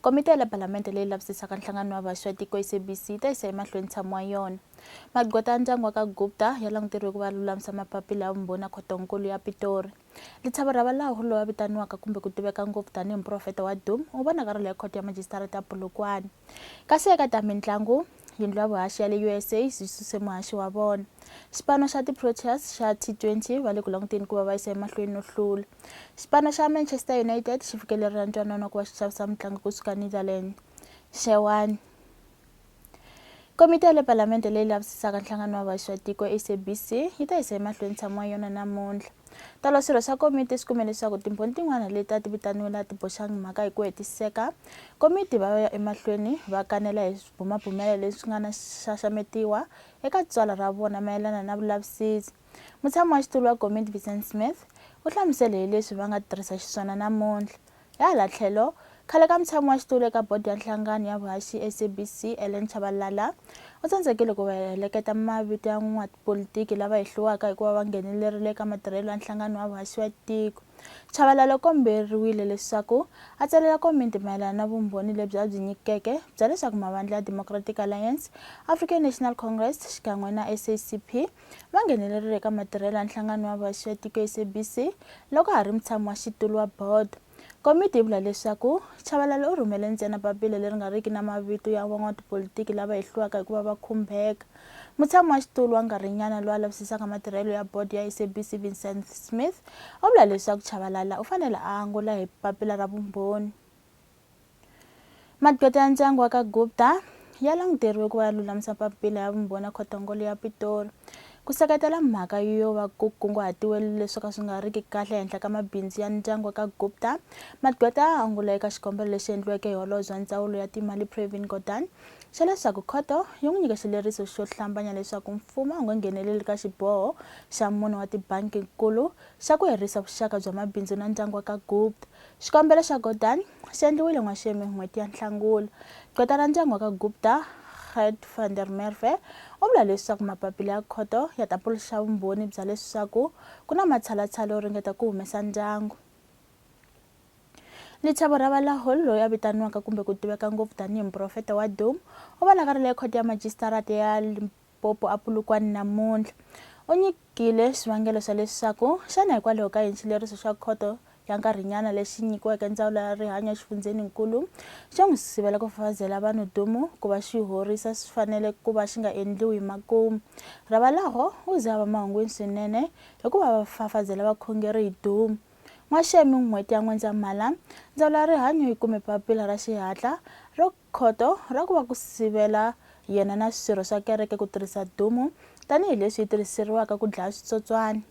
Komiti ya le Palamende leyi lavisisaka nhlangano wa vhaxi wa tiko, SABC, yi ta yisa emahlweni ntshamo wa yona. Magqweta ya ndyangu wa ka Gupta ya languteriwe ku va ya lulamisa mapapila ya vumbhoni ya Khoto-nkulu ya Pitori. Lithabo Rabalaho, loyi a vitaniwaka kumbe ku tiveka ngopfu tanihi muprofeta wa Doom, u va na karolo ya Khoto ya Majisitarata ya Polokwane. Kasi eka ta mintlangu, Yindlu ya vuhaxi ya le USA yi suse muhaxi wa vona. Xipano xa ti-Proteas xa T20 va le ku languteni ku va va yisa emahlweni no hlula. Xipano xa Manchester United xi fikelerela ntwanano wa ku va xi xavisa mutlangi kusuka Netherlands, Xewani. Komiti ya le Palamende leyi lavisisaka nhlangano wa vaxatiko, SABC, yi ta yisa emahlweni ntshamo wa yona namuntlha. Tolo swirho swa komiti swi kume leswaku timbhoni tin'wana leti a ti vitaniwile a ti boxangi mhaka hi ku hetiseka. Komiti va ya emahlweni va kanela hi swibumabumelo leswi nga na xaxametiwa eka tswala ra vona mayelana na vulavisisi. Mutshami wa xitulu wa komiti Vincent Smith u hlamusele hi leswi va nga tirhisa xiswona namuntlha. Hi hala tlhelo, khale ka mutshami wa xitulu eka bodo ya nhlangano ya vuhaxi SABC, Ellen Chabalala, u tsandzekile ku heleketa mavito ya van'watipolitiki lava hehliwaka hi ku va va nghenelerile eka matirhelo ya nhlangano wa vuhaxi wa tiko. Chabalala u komberiwile leswaku a tsalela komiti mayelana na vumbhoni lebyi a byi nyikeke bya leswaku mavandla ya Democratic Alliance, African National Congress xikan'we na SACP va nghenelerile eka matirhelo ya nhlangano wa vaxi ya tiko SABC loko ha ri mutshami wa xitulu wa board. Komiti yi vula leswaku Chabalala u rhumele ntsena papila leri nga riki na mavito ya van'watipolitiki lava hehliwaka hi ku va va khumbeka. Mutshami wa xitulu wa nkarhinyana loyi a lavisisaka matirhelo ya board ya SABC Vincent Smith u vula leswaku Chabalala u fanele a angula hi papila ra vumbhoni. Magqweta ya ndyangu wa ka Gupta ya languteriwe ku va ya lulamisa papila ya vumbhoni ya khotongolo ya Pitori ku seketela mhaka yo va ku kunguhatiwe leswi ka swi nga riki kahle ehenhla ka mabindzu ya ndyangu wa ka Gupta. Magqweta a angula eka xikombelo lexi endliweke hi holobye wa ndzawulo ya timali Pravin Gordhan xa leswaku khoto yi n'wi nyike xileriso xo hlambanya leswaku mfumo a wu nga ngheneleli ka xiboho xa mune wa tibanki-nkulu xa ku herisa vuxaka bya mabindzu na ndyangu wa ka Gupta Xikombelo xa Gordhan xi endliwile n'waxemu hi n'hweti ya Nhlangula. Gqweta ra ndyangu wa ka Gupta, Gert van der Merwe, u vula leswaku mapapila ya khoto ya ta puluxa vumbhoni bya leswaku ku na matshalatshala yo ringeta ku humesa ndyangu. Lithabo Rabalahul, loyi a vitaniwaka kumbe ku tiveka ngopfu tanihi muprofeta wa Doom, u vonakarile ekhoto ya majisitarata ya Popo a Polokwane namuntlha u nyikile swivangelo swa leswaku xana hikwalaho ka yini xileriso xa khoto ya nkarhinyana lexi nyikiweke ndzawulo ya rihanyo exifundzheni-nkulu xo n'wi sivela ku fafazela vanhu dumu ku va xi horisa swi fanele ku va xi nga endliwi hi makumu. Ravalaho u ze a va mahungwini swinene hikuva va fafazela vakhongeri hi dumu. N'waxemi n'hweti ya N'wendzamhala, ndzawulo ya rihanyo yi kume papila ra xihatla ro Khoto ra ku va ku sivela yena na swirho swa kereke ku tirhisa dumu tanihi leswi yi tirhiseriwaka ku dlaya switsotswani.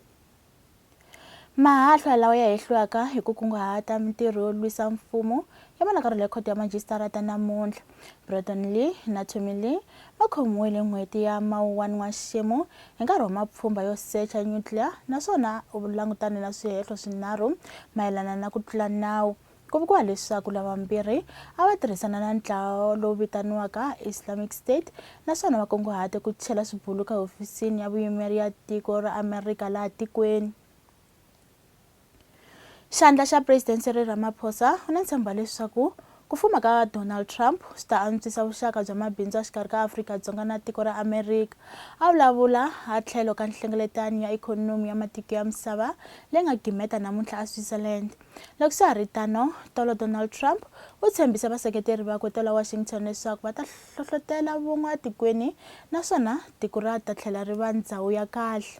Mahahlwa lawa ya hehliwaka hi ku kunguhata mintirho yo lwisa mfumo ya vonakarhela ekhoto ya majisitarata namuntlha. Breton Lee na Tommy Lee va khomiwile hi n'hweti ya Mawuwani N'waxemu hi nkarhi wa mapfhumba yo secha nyutliya naswona u langutane na swihehlo swinharhu mayelana na ku tlula nawu Ku vuriwa leswaku lava vambirhi a va tirhisana na ntlawa lowu vitaniwaka Islamic State naswona va kunguhate ku chela swibuluka ehofisini ya vuyimeri ya tiko ra Amerika laha tikweni. Xandla xa President Cyril Ramaphosa u na ntshembo leswaku ku fuma ka Donald Trump swi ta antswisa vuxaka bya mabindzu a xikarhi ka Afrika-Dzonga na tiko ra Amerika. A vulavula a tlhelo ka nhlengeletano ya ikhonomi ya matiko ya misava leyi nga gimeta namuntlha eSwitzerland. Loko swa ha ri tano, tolo Donald Trump u tshembise vaseketeri vakwe tolo Washington leswaku va ta hlohlotela vun'we atikweni naswona tiko ra ta tlhela ri va ndhawu ya kahle.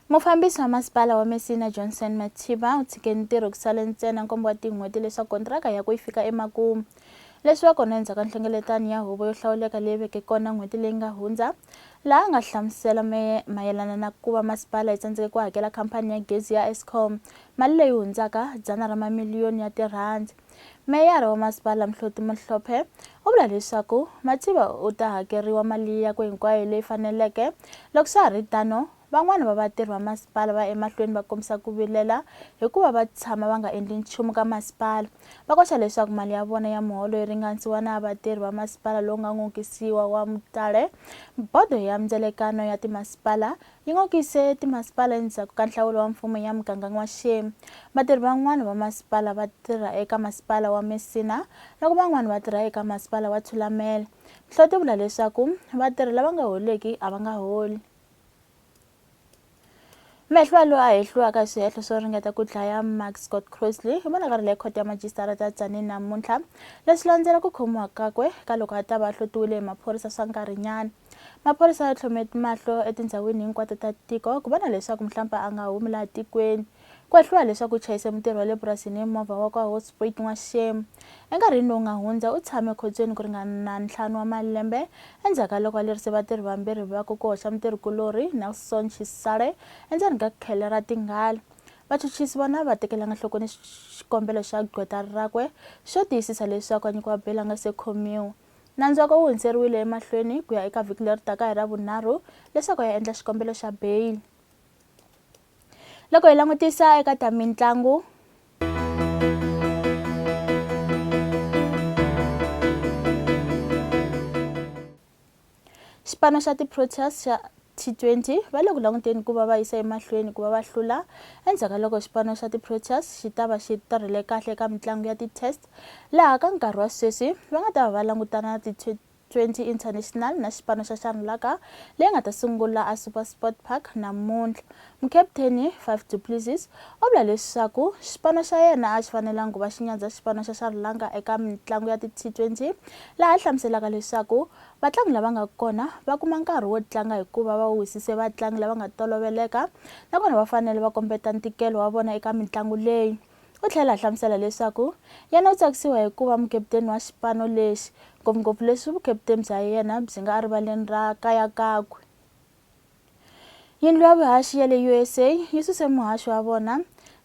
Mufambisi wa Masipala wa Messina Johnson Mathiba u tshike ntirho ku sale ntsena nkombo wa tin'hweti leswaku kontiraka yakwe yi fika emakumu. Leswi va kona endzhaku ka nhlengeletano ya huvo yo hlawuleka leyi veke kona n'hweti leyi nga hundza, laha a nga hlamusela mayelana na ku va masipala yi tsandzeke ku hakela khampani ya gezi ya Eskom mali leyi hundzaka dzana ra mamiliyoni ya tirhandi. Meyara wa Masipala Mhloti Mohlophe u vula leswaku Mativa u ta hakeriwa mali yakwe hinkwayo leyi faneleke. Loko swa ha ri tano, van'wana va vatirhi va masipala va ya emahlweni va kombisa ku vilela hi ku va va tshama va nga endli nchumu ka masipala. Va koxa leswaku mali ya vona ya muholo yi ringanisiwa na ya vatirhi va masipala lowu nga n'okisiwa wa Mutale, Bodo ya Mindzelekano ya Timasipala Yi ngokise timasipala endzhaku ka nhlawulo wa mfumo ya muganga n'waxemu. Vatirhi van'wana va masipala va tirha eka masipala wa Messina loko van'wana va tirha eka masipala wa Thulamela. Nhloti yi vula leswaku vatirhi lava nga holiki a va nga holi. Mehliwa loyi a hehliwaka hi swihehlo swo ringeta ku dlaya Mark Scott Crossley hi vonakarile ekhoto ya majisitara ta Tzaneen namuntlha leswi landzela ku khomiwa kakwe ka loko a ta va a hlotiwile hi maphorisa swa nkarhinyana. maphorisa ya tlhome mahlo etindhawini hinkwato ta tiko ku vona leswaku muhlampa a nga humi laha tikweni ku hehliwa leswaku u chayise mutirhi wa le purasini hi movha wa kwa hosprit n'waxemu enkarhini lowu nga hundza u tshame ekhotsweni ku ringana ntlhanu wa malembe endzhaku ka loko a lerise vatirhi vambirhi va ku ku hoxa mutirhi kulorhi nelson xisale endzeni ka khele ra tinghala vachuchisi vona va tekelanga nhlokweni xikombelo xa gqweta rakwe xo tiyisisa leswaku a nyikiwa bela nga se khomiwa Nantswako wu hundzeriwile emahlweni ku ya eka vhiki leri taka hi Ravunharhu leswaku ya endla xikombelo xa bail. Loko hi langutisa eka ta mintlangu, xipano xa ti-Proteas xa T20, va le ku languteni ku va va yisa emahlweni ku va va hlula endzhaku ka loko xipano xa ti-Proteas xi ta va xi tirhile kahle eka mitlangu ya ti-Test laha ka nkarhi wa sweswi va nga ta va va langutana na ti-T20 International na xipano xa Sharlaka leyi nga ta sungula a SuperSport Park namuntlha. Mukaputeni Faf du Plessis u vula leswaku xipano xa yena a xi fanelanga ku va xi nyandza xipano xa Sharlaka eka mitlangu ya ti-T20 laha a hlamuselaka leswaku Vatlangi lava nga kona va kuma nkarhi wo tlanga hikuva va wisise vatlangi lava nga toloveleka nakona va fanele va kombeta ntikelo wa vona eka mitlangu leyi. U tlhela a hlamusela leswaku yena u tsakisiwa hi ku va mukeputeni wa xipano lexi, ngopfungopfu leswi vukeputeni bya yena byi nga erivaleni ra kaya kakwe. Yindlu ya vuhaxi ya le USA yi suse muhaxi wa vona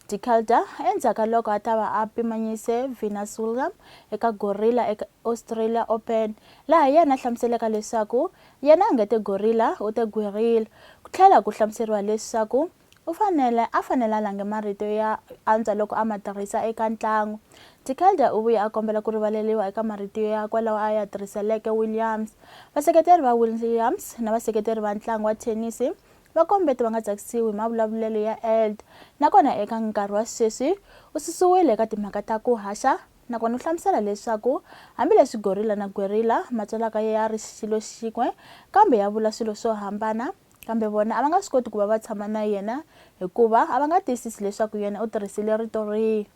De Calder endzhaku ka loko a ta va a pimanyise Venus William eka Gorilla eka Australia Open, laha yena a hlamuseleka leswaku yena a nga te gorilla u te guerrilla, ku tlhela ku hlamuseriwa leswaku U fanele a fanele a lange marito ya antswa loko a ma tirhisa eka ntlangu. Tikelder u vuye a kombela ku rivaleriwa eka marito yakwe lawa a ya tirhiseleke Williams. Vaseketeri va Williams na vaseketeri va ntlangu wa thenisi va kombete va nga tsakisiwi hi mavulavulelo ya Eld nakona eka nkarhi wa sweswi u susiwile eka timhaka ta ku haxa nakona u hlamusela leswaku hambileswi gorilla na guerrilla ma tswalaka ya ri xilo xin'we kambe ya vula swilo swo hambana Kambe vona a va nga swi koti ku va va tshama na yena hikuva a va nga tiyisisi leswaku yena u tirhisile rito rihi.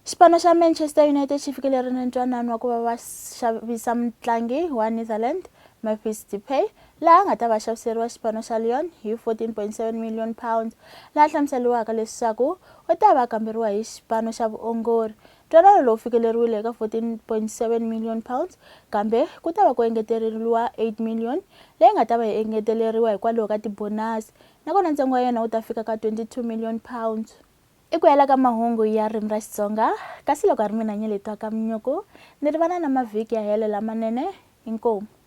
Xipano xa Manchester United xi fikelele na ntwanano wa ku va va xavisa mutlangi wa Netherlands Memphis Depay laha a nga ta va xaviseriwa xipano xa Lyon hi 14.7 million pounds laha hlamuseriwaka leswaku u ta va kamberiwa hi xipano xa vuongori Ntwanano lowu fikeleriwile eka R14.7 million kambe ku ta va ku engeteleriwa R8 million leyi nga ta va yi engeteleriwa hikwalaho ka tibonasi nakona ntsengo wa yona wu ta fika ka R22 million. I ku hela ka mahungu ya ririmi ra Xitsonga kasi loko a ri mina Nyeletwa Kamnyuku ni ri vana na mavhiki ya helo lamanene inkomu.